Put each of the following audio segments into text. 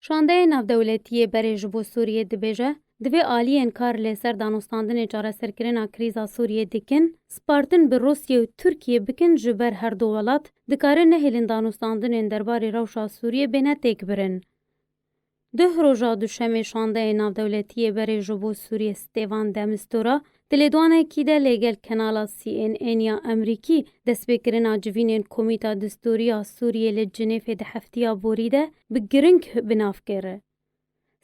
Şandeyê Navdewletî yê Berê ji bo Sûriyê dibêje, divê aliyên kar li ser danûstandinê çareserkirina krîza Sûriyê dikin, spartin bi Rûsiyê û Tirkiyê bikin ji ber her du welat dikarin nehêlin danûstandinên derbarê rewşa Sûriyê bêne têkbirin. Duh roja Duşemê Şandeyê Navdewletî yê Berê ji bo Sûriyê Stêvan de Mistura Di lêdanekî de lê gel kenala CNN ya Emrîkî destpêkirina civînên Komîta Distûrî ya Sûrîyê li Cinêfê di heftîya borî de bi giring bi nav kir.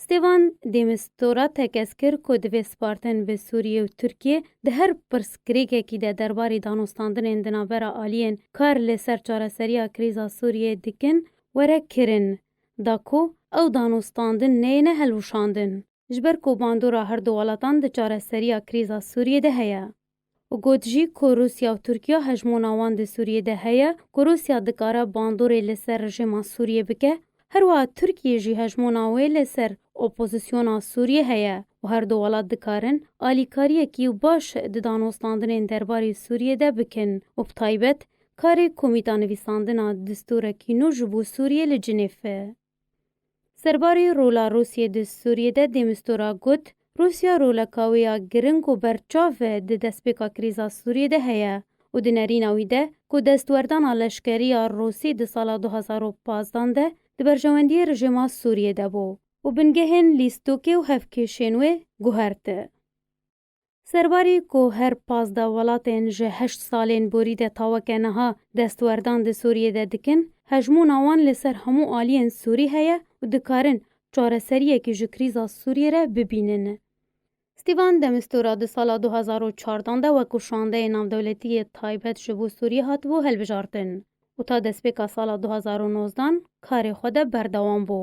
Stêvan de Mistura tekez kir ku divê spartin bi Sûrîyê û Tirkîyê di her pirsgirêkekî de derbarî danûstandinên di navbera alîyên kar li ser çareserîya krîza Sûrîyê dikin were kirin da ku ew danûstandin neyêne helwişandin. ji ber ku bandora her du welatan di çareseriya krîza Sûriyê de heye û got jî ku Rûsya û Tirkiya hejmona wan di Sûriyê de heye ku Rûsya dikare bandorê li ser rejîma Sûriyê bike, herwiha Tirkiyê jî hejmona wê li ser opozîsyona Sûriyê heye û her du welat dikarin alîkariyekî baş di danûstandinên derbarê Sûriyê de bikin û bi taybet karê komîta nivîsandina distûrekî nû ji bo Sûriyê li Cinêf. Serbarê rola Rûsyê di Sûriyê de De Mistura got, Rûsya roleka wê ya giring û berçav e di destpêka krîza Sûriyê de heye û di nerîna wî de ku destwerdana leşkerî ya Rûsî di sala du hezar û pazdeh de di berjewendiyê rijêma Sûriyê de bû û bingehên lîstokê û hevkêşên wê guherti. Serbarî ku her pazdeh welatên ji heşt salên borî de ta weke niha destwerdan di Sûriyê de dikin, hejmûna wan li ser hemû aliyên Sûrî heye û dikarin çareseriyekî ji krîza Sûriyê re bibînin. Stîvan de Mistura di sala du hezar û çardan de wek ku şandeyê navdewletî yê taybet ji bo Sûriyê hatibû hilbijartin û ta destpêka sala du hezar û nozdan karê xwe de berdewam bû.